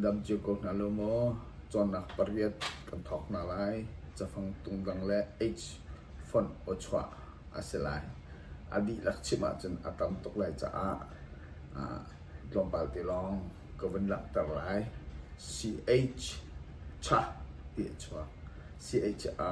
Dam cio ko hna law maw cawnnak pariat kan thawk hna lai. Cafang tungdang le H fonh aw chuah a si lai. A dihlak chim ahcun a tam tuk lai caah tlawmpal te lawng ka vun langhter lai. CH, Cha ti a chuak. CH, A.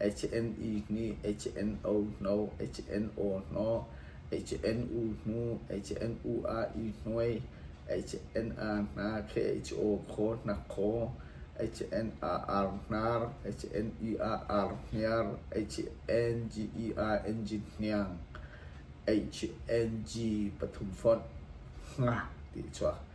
HNI nih HNO hno, HNO hno, HNU hnu, HNUAI hnuai, HNA hna KHO khaw hnak khaw, HNAR hnar, HNEAR hniar, HNGER engine hniang, HNG pathum fonh, ti a chuak.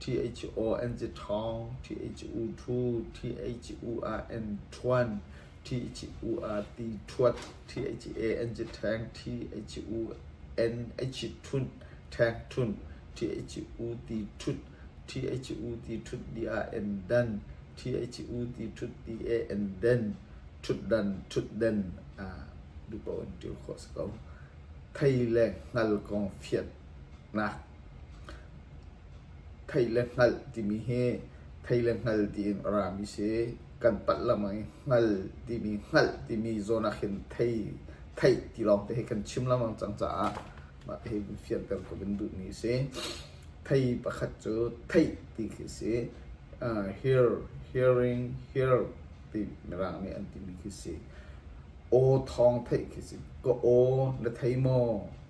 Thi-ei-ci-aw an ci ṭhawng, thi-ei-ci-u ṭhu, thi-ei-ci-u ah an ṭhuan, thi-ei-ci-u ah ti ṭhuat, thi-ei-ci-e an ci ṭheng, thi-ei-ci-u an ei-ci ṭhunh, ṭheng ṭhunh, thi-ei-ci-u ti ṭhut, thi-ei-ci-u ti ṭhut ti ah an dan, thi-ei-ci-u ti ṭhut ti eh an den, ṭhutdan, ṭhutden duh paoh in ṭil khawh a si ko. Thei le hngal kong fianh. Thei le hngalh timi hi thei le hngal tiin a rami a si. Kan palh lam ah hngal timi, hngalh timi zawn ah khin theih ti lawng te hi kan chim lengmang cang caah mah hi fian kan kum in duhmi a si. Thei pakhat cu theih ti khi a si. Hear, hearing, hear ti mirang nih an timi khi a si. Aw thawng theih khi a si. Ka aw na thei maw?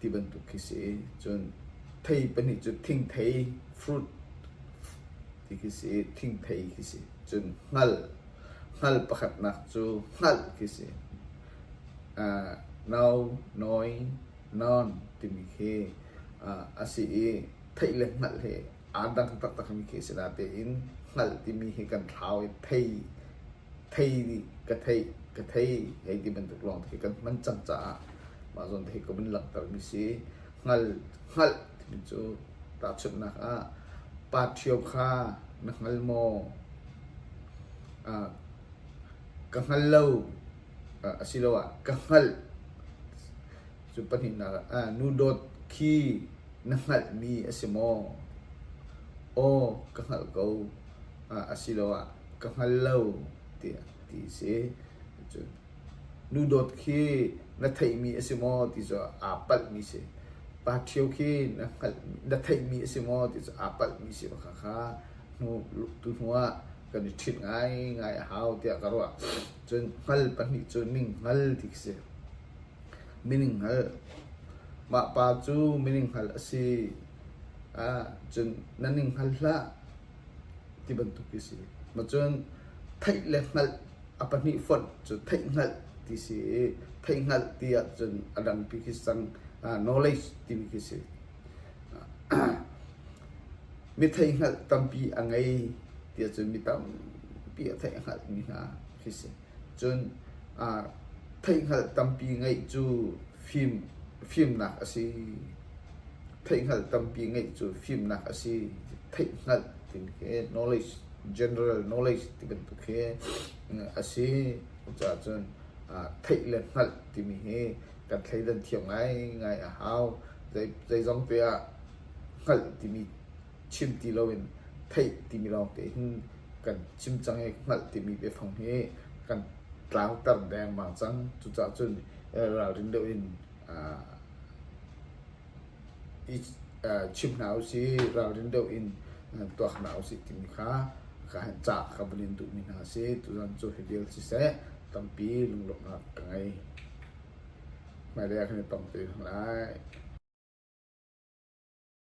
ti bantuk khi si. Cun thei pahnih cu thingthei fruit ti khi si i thingthei khi si. Cun hngal, hngal pakhatnak cu hngalh khi si. Uh, no, nawi, non timi khi uh, a si i theih le hngalh hi Aan dang taktakmi khi a si natein hngalh timi hi kan thlau i thei, thei nih ka theih, ka thei hei ti bantuk lawng khi kan hman cang caah mah zawn te hi ka vun langhtermi si. Hngal, hngalh timi cu tahchunhnak ah pa ṭhio kha na hngal maw? Uh, ka hngal lo uh, asiloah ka hngalh Cu pahnihnak ah nu dawt khi na hngalhmi a si maw? Aw ka hngalh ko asiloah ka hngal lo tiah ti a si. Cun nu dawt khi na theihmi a si maw ti cu aa palhmi a si. Pa ṭhio khi na hngalh na theihmi a si maw ti cu aa palhmi a si bak khakha tu hnu ah kan i ṭhit ngaingai a hau tiah ka ruah. Cun hngal pahnih cu ning hngal ti khi si. Mining-hngal. Mah pa cu mining-hngal a si ah cun na ning-hngal hlah ti bantuk hi a si. Macun theih le hngalh a pahnih fonh cu theih-hngalh ti si i theih-hngalh ti ahcun a dangpi khi cang. Knowledge timi khi a si. Mi theih-hngalh tampi a ngei ti ahcun mi tampi a theih-hngalhmi hna khi a si. Cun theihhngalh tampi ngeih cu fimnak a si. Theihhngalh tampi ngeih cu fimnak a si. Theihhngalh ti khi knowledge, general knowledge ti bantuk hi a si. Cucahcun theih le hngalh timi hi kan thleidan thiam ngaingai a hau. Zeizong te ah hngalh timi chim ti loin theih timi lawngte hin kan chim cang i hngalh timi biafang hi kan tlangter dengmang cang. Cucaah cun ralrin deuh in chim hna usih, ralrin deuh in tuak hna usih timi kha ca ka vun in duhmi hna a si. Tuzan cu hi vial siseh tampi lunglawmhnak ka ngei. Hmailei ah kan i tong te hna lai.